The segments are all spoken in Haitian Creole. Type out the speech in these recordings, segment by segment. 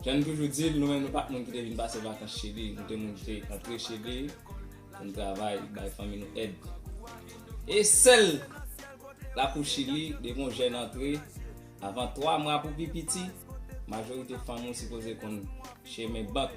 Jan n toujou di l, nou menm nou pa t moun ki te vin pase vakans Chili. Nou te moun ki te antre Chili pou n travay, bay fanmi nou èd. E sèl lakou Chili, depi yon jèn antre, avan twa mwa pou pi piti, majorite fanm ou sipoze konn chemen bank.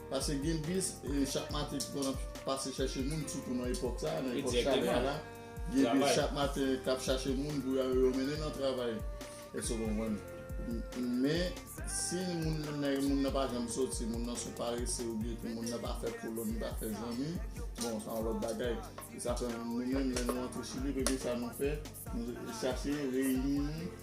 Pase gen bis chak maten ki konn ap pase chache moun sitou nan epòk sa a, nan epòk chalè a la. Gen bis chak maten k ap chache moun pou yo mennen nan travay. Èske w konprann? Men, si moun nan pa janm soti, moun nan sou parese oubyen tou moun nan pa fè kolòn, li pa fè zanmi, bon, sa yon lòt bagay. Se sa fè nou menm lè nou antre Chili, premye sa nou fè, nou chache reyini.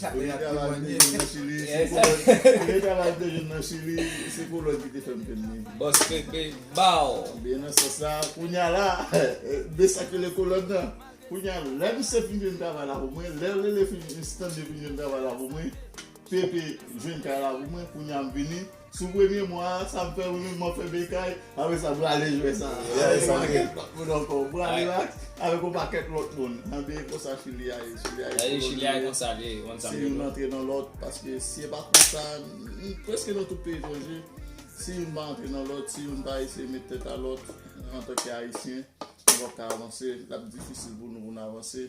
Premye travay m te jwenn nan chili se kolòn ki te fèm jwenn li. Bòs pepe baww. Ebyen nan sans la kounya la de sak rele kolòn nan. Kounya lè misye fin jwenn travay la pou mwen, lè Lele fin, Stanley fin jwenn travay la pou mwen, Pepe jwenn kay la pou mwen, kounya m vini. Sou premye mwa a sa m fè wi menm map fè bekay apre sa brale jwè sa avèk yon pakèt lòt moun ankò brale ak avèk yon pakèt lòt moun an byen konsa chili a ye chili a ye chili a ye konsa li ye se youn antre nan lòt paske si e pa konsa preske nan tout peyi etranje si youn pa antre nan lòt si youn pa eseye met tèt a lòt antanke ayisyen nou pap ka avanse lap difisil pou nou pou nou avanse.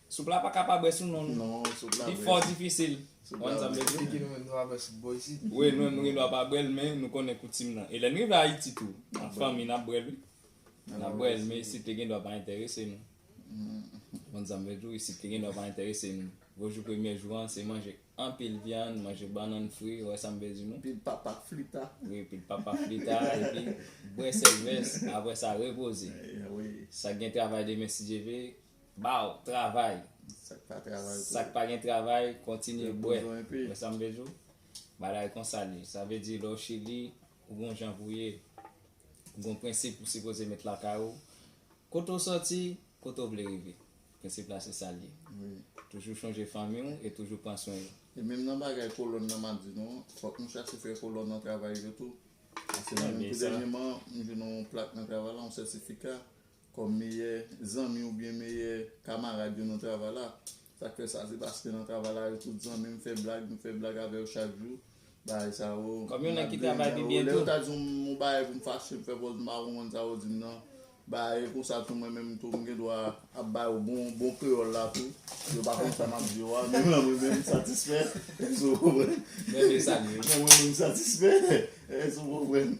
Soup la pa ka pa bwè sou non nou. Non, soup la bwè. Li fò difisil. Soup la bwè. Ki ki nou gen dwa bwè soup bò isit? Wi, nou menm nou gen dwa pa bwè l, men nou konnen koutim nan. E lè n rive Ayiti tou, an fanmi n ap bwè l wi. N ap bwè l, men isit li gen dwa pa enterese nou. Ou konn sa m vle di w, isit li gen dwa pa enterese nou. Gwo jou premye jou an, se manje anpil vyann, manje bannann fri, ou wè sa m vle di nou? Pil papa flita. Wi, pil papa flita, epi bwè sèlvès, apre sa repoze. Sa gen travay demen si Dye ve, Baw travay sak pa gen travay kontinye bwè wè sam vle diw bagay konsa liye sa vle di lè w chili ou gon jan pou ye ou gon prensip ou sipoze met lakay ou kote w sòti kote w vle rive prensip la se sa liye toujou chonje fanmi w e toujou pran swen yo. E menm nan bagay kolòn nan map di nou an fòk nou chache fè kolòn nan travay yo tou paske mwen menm tou dènyèman m jwenn yon plak nan travay la yon sètifika Kòm meyè zanmi oubyen meyè kamarad yo nan travay la. Sa k fè sa? Se paske nan travay la yo tout zanmi, m fè blag, m fè blag avè yo chak jou. Bagay sa yo, m ap benyen nan yo. Lè yo ta di m yon bagay pou m fache, m fè pòz m pa konprann sa yo di m nan. Bagay konsa tou mwen menm tou m gen dwa ap ba yo bon kreyòl la tou. Yo pa konn sa m ap di yo a, men mwen mwen menm m satisfè. Èske w konprann? Mwen menm m satisfè. Èske w konprann?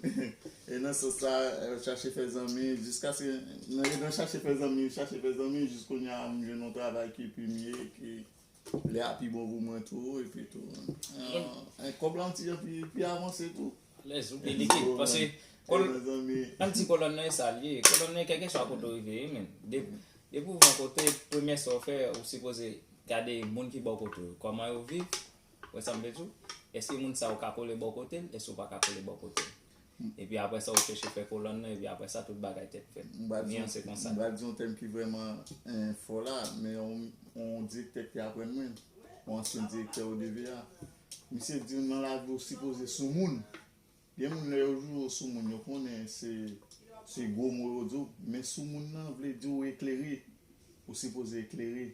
E nan sans sa chache fè zanmi jiskaske e nan chache fè zanmi chache fè zanmi jis kounya m jwenn yon travay ki pi mye ki lè a pi bon pou mwen tou epi tou en kòb lan ti jan pi avanse tou. Alèz ou gen likid pase an ti kolòn nan e sa l ye kolòn nan kèlke swa kote w rive ye menn depi w rive yon kote premye sa w fè ou sipoze gade moun ki bò kote w kòman yo viv wè sa m vle di w èske moun sa yo ka kole bò kote l èske yo pa ka kole bò kote l. Epi apre sa ou chèche fè kolòn nan epi apre sa tout bagay tèt fèt. M pral di yon tèm ki vrèman fò la, men yon direktè ki aprann mwen, yon ansyen direktè ODVA. Misye di m nan lavi ou sipoze sou moun. Gen moun lè yo jwe yo sou moun yo konnen se gwo mo yo di w, men sou moun nan vle di ou eklere, ou sipoze eklere.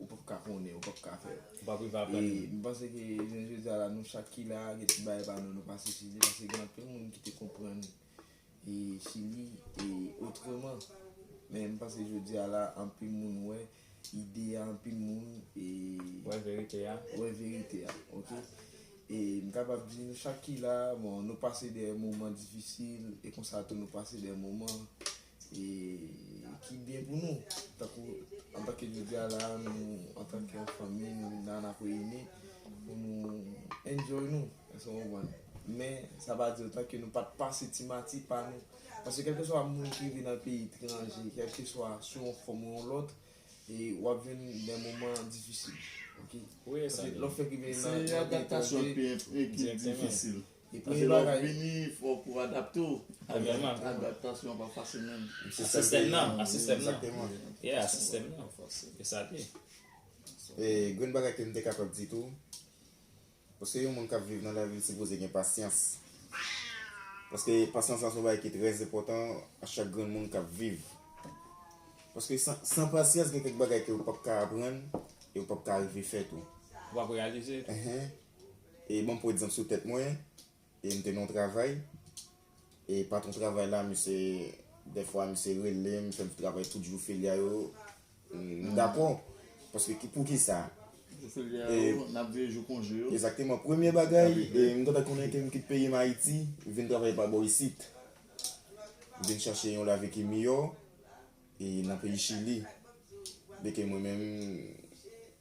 Ou pap ka konnen, ou pap ka fè. Ou pap rive aprann li. E m panse ke jounen jodi a la nou chak ki la a gen ti bagay pa nou nou pase sou li paske gen anpil moun ki te konprann e Chili e otreman. Men m panse jodi a la anpil moun wè ide a anpil moun e. Wè verite a. Wè verite a ok. E m kapab di nou chak ki la a bon nou pase dè moman difisil e konsa tou nou pase dè moman e ki byen pou nou tankou antanke jodi a la nou antanke yon fanmi nou vin la nap reyini pou nou enjoy nou èske w konprann men sa pa di otan ke nou pat pase ti mati pa nou paske kèlkeswa moun ki rive nan peyi etranje kèlkeswa sou yon fòm ou yon lòt e wap jwenn dè moman difisil ok lè w fèk rive nan yon peyi etranje. Depi lè w vini fòk ou adapte w. Adaptasyon an pa fasil menm. A sistèm nan. A sistèm nan. Yeah a sistèm nan. E sa l ye. E grenn bagay ke m te kapab di tou. Paske yon moun k ap viv nan lavi l sipoze gen pasyans. Paske pasyans lan se yon bagay ki trè enpòtan a chak grenn moun k ap viv. Paske san pasyans gen kèk bagay ke ou p ap ka aprann e ou p ap ka rive fè tou. Ou p ap reyalize. Enhen. E banm pwan egzanp sou tèt mwen, e m te nan yon travay, e patron travay la misye dèfwa misye relem fèm travay tout jou feriya yo, m dakò, paske ki poukisa? Jou feriya yo, nap veye jou konje yo. Egzakteman, premye bagay, m gentan konnen ke m kit peyi m Ayiti, m vin travay pa bò isit. M vin chache yon lavi ki miyò, e nan peyi chili, byenke mwen menm.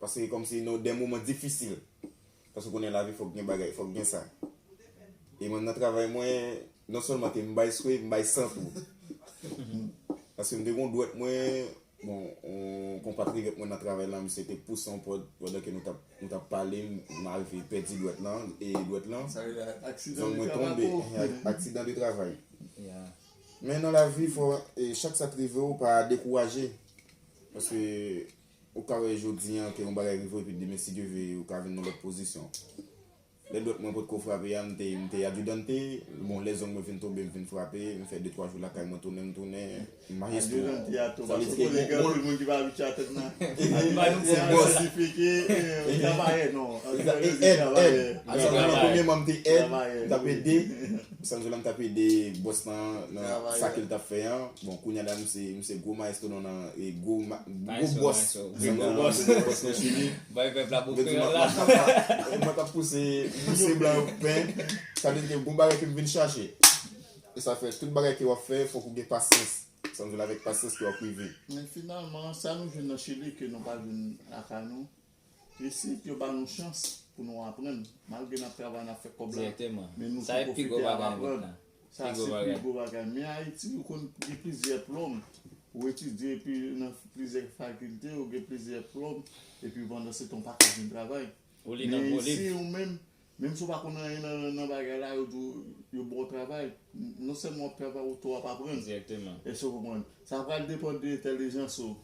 Paske kòm se nan de moman difisil. Paske ou konnen lavi fòk gen bagay, fòk gen sa. E mwen nan travay mwen, non sèlman ke m bay swe, m bay san tou. Paske m te gen yon dwèt mwen, bon, yon konpatriyòt mwen nan travay lan, misye te pouse yon pòt, pandan ke nou t ap, nou t ap pale, m arive pèdi dwèt lan, e dwèt lan, zong mwen tonbe, aksidan de travay. Men nan lavi fò, chak sa t rive ou, pa dekouraje. Paske. Ou ka wè jodi an ke yon bagay rive w epi demen si Dye ve ou ka vin nan lòt pozisyon. Lè dwèt mwen potko frape a m te m te adjudante, bon lè zong mwen vin tonbe m vin frape, m fè de twa jou lakay mwen tounen m tounen maestro. Adjudante a tou paske m konnen gen anpil moun ki pa abitye a tèt nan. Adjudante a sa sifike travayè non. Travayè. Travayè. Travayè. Premyèman m te èd, m t ap ede. Sanjolan tap ede bòs lan nan sa kel tap fè an bon kounya la misye gwo maestro non nan e gwo bòs nan nan bòs nan chili bay pèp la bò kreyòl la mwen tap pouse pouse blan yo pen sa vle di ke gon bagay kem vin chache e sa fè tout bagay ke wap fè fòk ou gen pasyans sanjoul avèk pasyans ke wap rive men finalman sa nou jwenn nan chili ke nou pa jwenn lakay nou. E si yo ba nou chans pou nou aprann, malgre n ap travay, n ap fè kòb la, men nou tou pwofite al aprann, sa se pi gwo bagay. Men Ayiti, ou konn gen plizyè plòm, ou etidye epi nan plizyè fakilte, ou gen plizyè plòm, epi pandan se tan ou pa ka jwenn travay. Men isi ou menm, Menm si w pa konn anyen nan bagay la, yo di w yo ba w travay, non sèlman w ap travay ou tou w ap aprann. Egzakteman. Èske w konprann? Sa pral depann de entèlijans ou.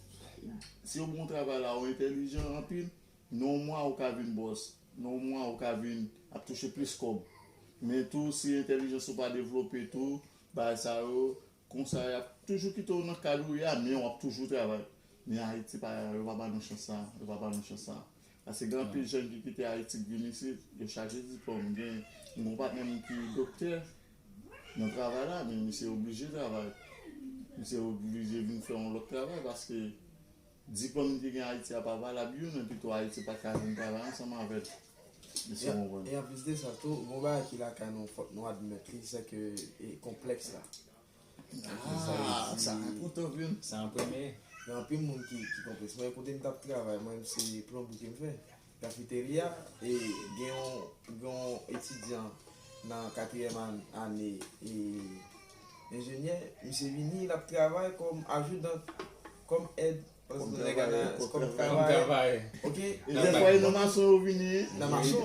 Si yo ba w travay la, ou entèlijan anpil, nan yon mwa ou ka vin bòs, nan yon mwa ou ka vin ap touche plis kòb. Men tou si entèlijans ou pa devlope tou, bagay sa yo, Konsa yap toujou kite w nan kad ou ye a men wap toujou travay. Men Ayiti pa yo pa ba nou chans sa a, yo pa ba nou chans sa a. Paske gen anpil jèn ki kite Ayiti k vin isit, yo chaje diplòm. Gen m gen yon patnè m ki doktè nan travay la men misye oblije travay. Misye oblije vin fè yon lòt travay paske diplòm li te gen Ayiti a pa valab youn e pito Ayiti pat ka jwenn travay ansanm avè l. E anplis de sa tou, gon bagay ki lakay nou fòk nou admèt li, se ke konplèks la. Sa an premye. Gen anpil moun ki konplèks. Mwen kote m t ap travay, mwen menm se plonbri ke m fè. Kafeterya, e gen yon etidyan nan katriyèm ane enjenyè, misye vini l ap travay kòm ajoudan, kòm èd. Kòm travayè, kòm travayè. Ok. Lè fwaye nan mason yo vini. Nan mason.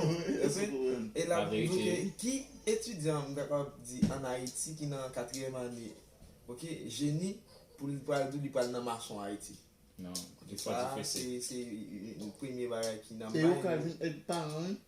E la pou nou ke ki etidyan m ta kapab di an Ayiti ki nan katriyèm ane ok jeni pou l pral di li pral nan mason Ayiti. Non. Sa se premye bagay ki nan may. Yo ka vin èd paran wi.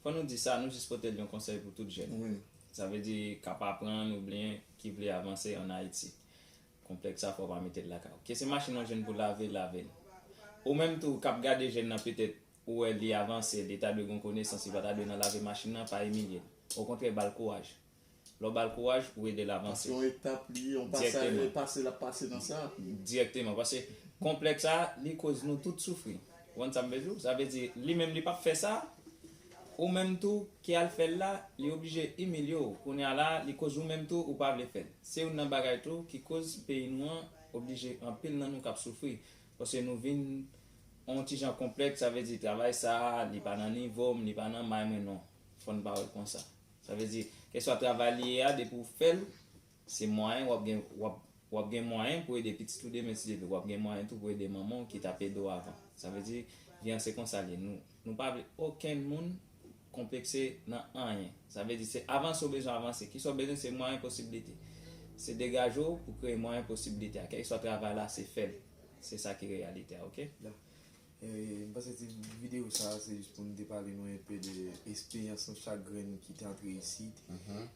Fò nou di sa, nou jis pote l yon konsèy pou tout jèn, sa vle di k ap aprann oubyen ki vle avanse an Ayiti. Konplèks sa fò w pa mete l lakay w. Ke se machin ou jwenn pou lave, lave l. Ou menm tou k ap gade jèn nan petèt ou wè li avanse, li ta dwe gen yon konesans, li pa ta dwe nan lave machin nan, pa imilye l. Okontrè ba l kouraj. Lè w ba l kouraj, ou ede l avanse. Paske yon etap li ye, yon pasaj, yon pase l ap pase nan sa. Dirèkteman. Paske konplèks sa, li koz nou tout soufri. Ou konn sa m vle di w? Sa vle di, li menm li pa p fè sa, ou menm tou ki al fè l la, li oblije imilye w. Kounye a la, li koz ou menm tou ou pa vle fè l. Se youn nan bagay tou ki koz peyi nou an oblije anpil nan nou k ap soufri. Paske nou vin yon ti jan konplèks, sa vle di travay sa, li pa nan nivo m, li pa nan may mwen. Non, fò n pa wè l konsa. Sa vle di, kèlkeswa travay li ye a depi ou fè l, se mwayen wap gen wap gen mwayen pou ede pitit ou demen si Dye vle, wap gen mwayen tou pou ede manman w ki t ap ede w avan. Sa vle di, vi an se konsa l ye. Nou nou pa vle okenn moun konplekse nan anyen. Sa vle di se avanse w bezwen avanse. Kisa w bezwen se mwayen posibilite. Se degaje w pou kreye mwayen posibilite a. Kèlkeswa travay la se fè l. Se sa ki reyalite a ok. M panse ti videyo sa se jis pou nou te pale nou enpe de esperyans nou chak grenn ki te antre isit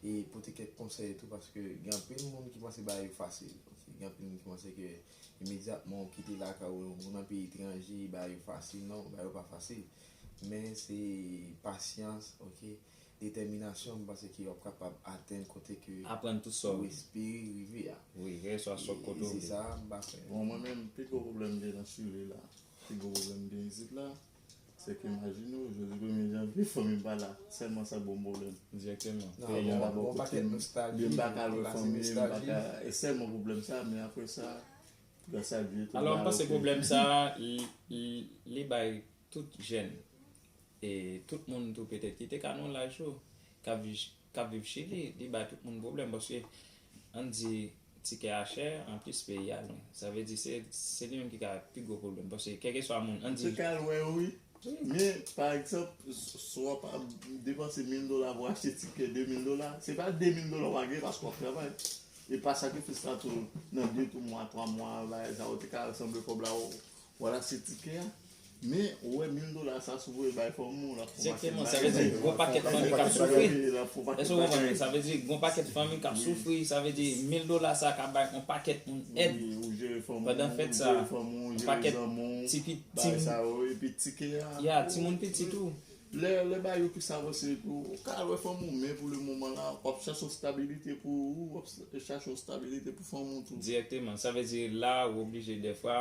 e pote kèk konsèy tou paske gen anpil moun ki panse bagay yo fasil. Gen anpil moun ki panse ke imedyatman ou kite lakay ou ou nan peyi etranje bagay yo fasil. Non, bagay yo pa fasil men se pasyans ok. Detèminasyon m panse ke wap kapab atenn kote ke ou espere rive a. E se sa a m pa fè. Bon mwen menm pi gwo pwoblèm m gen nan Chile la, pi gwo pwoblèm m gen isit la, se ke imajine w jodi premye janvye fanmi m pa la, sèlman sa k ban m pwoblèm. Peyi an pa bò kote m, m pa ka wè fanmi m, m pa ka, e sèlman pwoblèm sa, men apre sa, gras a Dye tout bagay ok. Alò m panse pwoblèm sa a li bay tout jèn. E tout moun tou petèt ki te ka nan laj ou, k ap viv Chili, li bay tout moun pwoblèm paske ann di tikè a chè, anplis peyi a lwen. Sa vle di se li menm ki ka pi gwo pwoblèm paske kèlkeswa moun, ann di. Ou te ka al wè yo wi. Men, pa egzanp, si w ap depanse mil dola pou w achte tikè de mil dola, se pa de mil dola w va gen paske w ap travay. Epa sakrifis la tou nan de tou mwa, twa mwa, bagay sa yo te ka sanble kòb la Wala se tikè a Men ou wè mil dola sa si w voye bay fanm ou l ap fon pakèt bagay Sa vle di gon pakèt fanmi k ap soufri Èske w konprann mwen Sa vle di gon pakèt fanmi k ap soufri Sa vle di mil dola sa ka bay on pakèt moun èd Pandan fèt sa On pakèt ti pitit Ti moun pitit tou Lè lè bagay yo plis avanse epi ou ka al wè fanmi w men pou le moman la wap chache yon stabilite pou ou wap chache yon stabilite pou fanmi w tou. Dirèkteman. Sa vle di la ou oblije dèfwa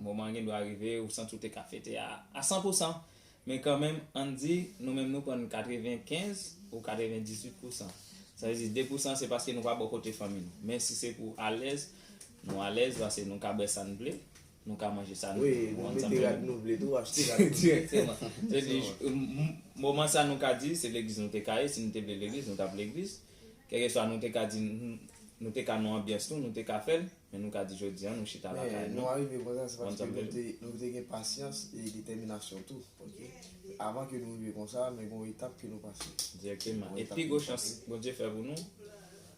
moman an gendwa rive ou santi ou te ka fete a a san pou san men kanmenm ann di nou menm nou prann katreven kenz ou katreven dizuit pou san sa vle di de pou san se paske nou pa bò kote fanmi nou men si se pou alèz nou alèz pase nou ka bwè sa n vle Nou ka manje sa nou vle. Wi, nou mete rad nou vle tou, achte rad nou vle. Direkteman. Vle di, moman sa nou ka di, se legliz nou te ka ye, si nou te vle legliz, nou t ap legliz. Kèlkeswa nou te ka di, nou te ka nan anbyans nou, nou te ka fè l, men nou ka di jodi an nou chita lakay nou. Nou arive konsa an se paske nou te, nou te gen pasyans e detèminasyon tou. Paske, avan ke nou rive konsa, men gen yon etap ke nou pase. Direkteman. E pi gwo chans Bondye fè pou nou,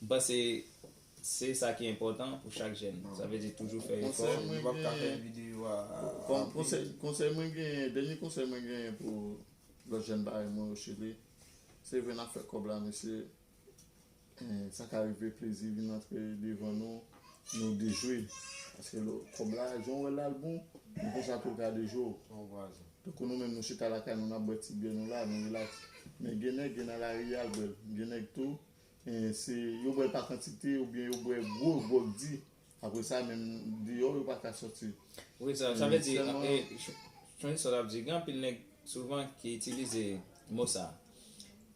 M panse se sa ki enpòtan pou chak jèn. Sa vle di toujou fè efò. Yo pap ka fè videyo a ranpli. Konsèy mwen genyen, dènye konsèy mwen genyen pou lòt jèn parèy mwen yo Chili, se vre nap fè kòb la mesye, sa ka rive plezi vin antre devan nou, nou dejwe. Paske kòb la jan ou wèl la l bon, men konsa tou l ka dejwe w. Tankou nou menm nou chita lakay nou nap bwè ti byè nou la, nou relax. Men gen nèg, gen nan lari a l bwè l. Gen nèg tou. Se yo bwè pa kantite oubyen yo bwè gwo gwòg di. Apre sa menm deyò yo pa ka soti. Wi, sa vle di, Tony sa l ap di, gen anpil nèg souvan ki itilize mo sa a,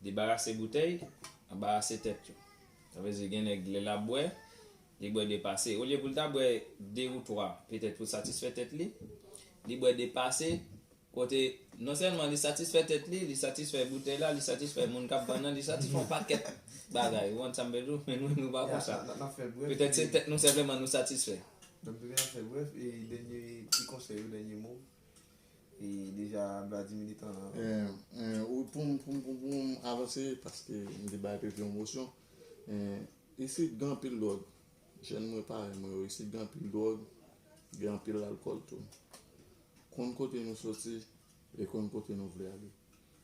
debarase boutèy, anbarase tèt yo. Sa vle di gen nèg lè l ap bwè, li bwè depase. Olye pou l ta bwè de ou twa petèt pou l satisfè tèt li, li bwè depase Kote, non sèlman li satisfè tèt li, li satisfè boutèy la, li satisfè moun k ap vann an, li satisfè yon pakèt bagay. Ou konn sa m vle di w? Men nou menm nou pa konsa. Petèt se tèt nou senpleman nou satisfè. Donk toujou n ap fè brèf. E dènye ti konsèy ou, dènye mo w? E deja Bladi militan an. Wi, pou m, pou m, pou m, pou m avanse paske m te bay pepi yon mosyon. Isit gen anpil dwòg. Jèn mwen parèy mwen yo isit gen anpil dwòg, gen anpil alkòl tou. Konn kote nou soti e konn kote nou vle ale.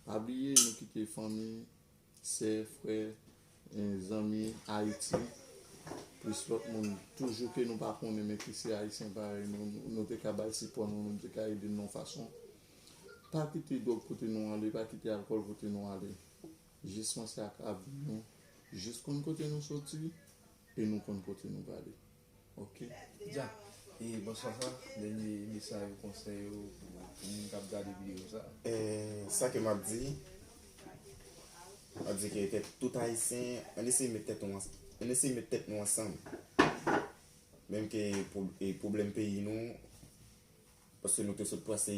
Pa bliye nou kite fanmi, sè, frè, zanmi Ayiti plis lòt moun toujou ke nou pa konnen men ki se Ayisyen parèy nou, nou te ka bay sipò nou, nou te ka ede nou yon fason. Pa kite dwòg pote nou ale, pa kite alkòl pote nou ale. Jis panse ak avni nou, jis konn kote nou soti. E nou konn kote nou prale ok. Dja e bonswa sa dènye mesaj ou konsèy ou pou moun kap gade video sa. Sa ke map di map di ke ke tout ayisyen ann eseye met tèt nou ann eseye met tèt nou ansanm menm ke pwoblèm peyi nou Paske nou te sot pase,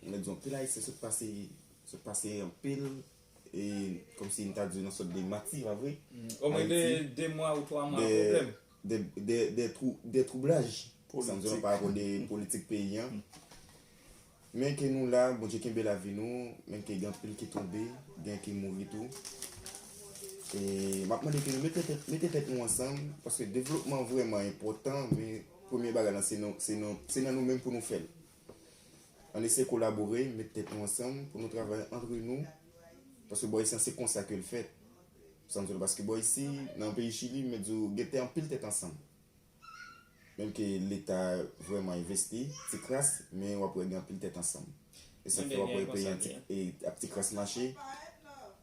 mwen di anpil ayisyen sot pase, sot pase anpil, e kòm si m ta di yon sòt de mati, pa vre? Omwen de 2 mwa ou 3 mwa pwoblèm. De twou, de twoublaj. Politik. San di nou pa rapò de politik peyi an. Men ke nou la, Bondye kenbe lavi nou, men ke gen anpil ki tonbe, gen ki mouri tou. E m ap mande ke nou mete tèt, mete tèt nou ansanm, paske devlopman vrèman enpòtan, men. Premye bagay lan se nou se nou se nan nou menm pou nou fèl ann eseye kolabore met tèt nou ansanm pou nou travay antre nou paske bò isi an se konsa kel fèt sa m di w la paske bò isi nan peyi chili m mèt di w gen tè anpil tèt ansanm menm ke leta vrèman envesti ti kras men wap wè gen anpil tèt ansanm e sa fè wap wè peyi an ti ap ti kras mache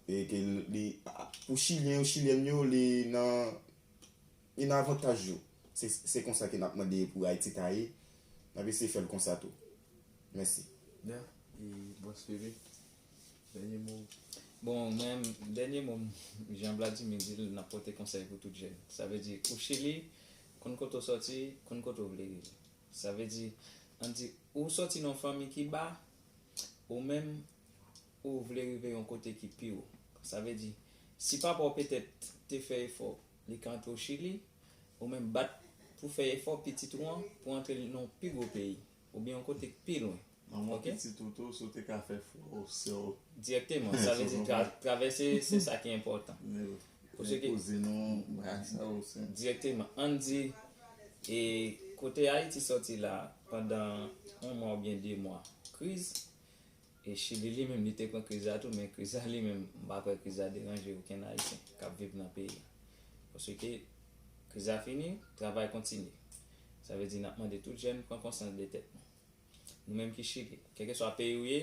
e ke li pou chilyen yo chilyèn yo li nan. Yn avantaj yo se se konsa ke nap mande pou ayiti ta ye nap eseye fèl konsa tou mèsi. Nya e bon spirit dènye mo ou. Bon mwen dènye mo m jan Vladimir di l nap pote konsèy pou tout jèn sa vle di ou chili konn kote w sòti konn kote w vle rive sa vle di an di ou sòti nan yon fanmi ki ba ou menm ou vle rive yon kote ki pi wo sa vle di si papa w petèt te fè efò Li ka antre w Chili, ou menm bat pou fè efò pitit ou an pou antre l nan yon pi gwo peyi, oubyen yon kote k pi lwen. Manman pitit ou tou, si w te ka fè frè w, sè w. Dirèkteman, sa vle di travèse se sa ki enpòtan. Pou se ki. Kouzin ou, brak sa ou se. Dirèkteman. An n di, e kote Ayiti sòti la, pandan yon mwa oubyen de mwa kriz, E chili li menm li te pran kriz la tou men kriz la li menm m pa kwè kriz la deranje okenn ayisyen kap viv nan peyi a paske kriz la fini travay kontinye sa vle di nap mande tout jèn pran konsyans de tèt nou nou menm ki chili kèlkeswa peyi ou ye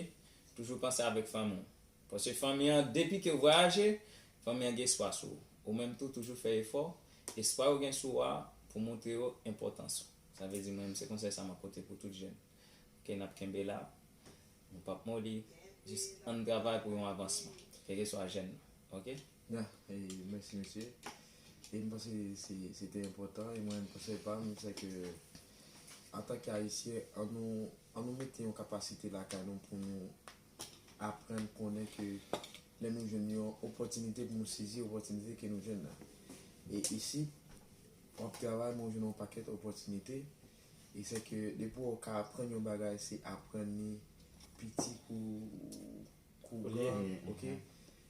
toujou panse avèk fanmi w paske fanmi an depi ke w vwayaje fanmi an gen espwa sou ou ou menm tou toujou fè efò espwa yo gen sou ou a pou w montre yo enpòtans ou sa vle di mwen menm se konsèy sa map pote pou tout jèn. Ok nap kenbe la nou pap moli jis ann travay pou yon avansman kèlke swa jèn nan ok. Da, mèsi mesye. E m panse se te enpòtan e mwen menm konsèy pa m se ke antanke ayisyen an nou an nou mete yon kapasite lakay nou pou nou aprann konnen ke lè nou jwenn yon opòtinite pou nou sezi opòtinite ke nou jwenn nan. E isit w ap travay men w jwenn yon pakèt opòtinite Li se ke depi w ka aprann yon bagay se aprann li piti kou kou gran ok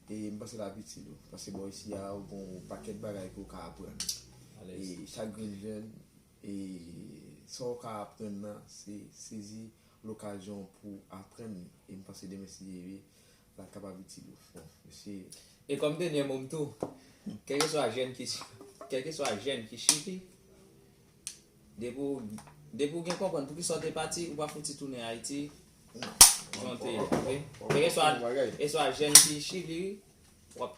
e m panse l ap itil ou paske bò isi a ou gon yon pakèt bagay ke w ka aprann e chak grenn jèn e sa w ka aprann nan se sezi lokazyon pou aprann li e m panse demen si Dye vle la kapab itil ou fò, mesi. E kòm denyè mo m tou, kèlkeswa jèn ki kèlkeswa jèn ki chili, depi w depi w gen konprann poukisa w te pati, ou pa fouti tounen Ayiti jan w te ye, ok? Kèlkeswa kèlkeswa jèn ki chili, w ap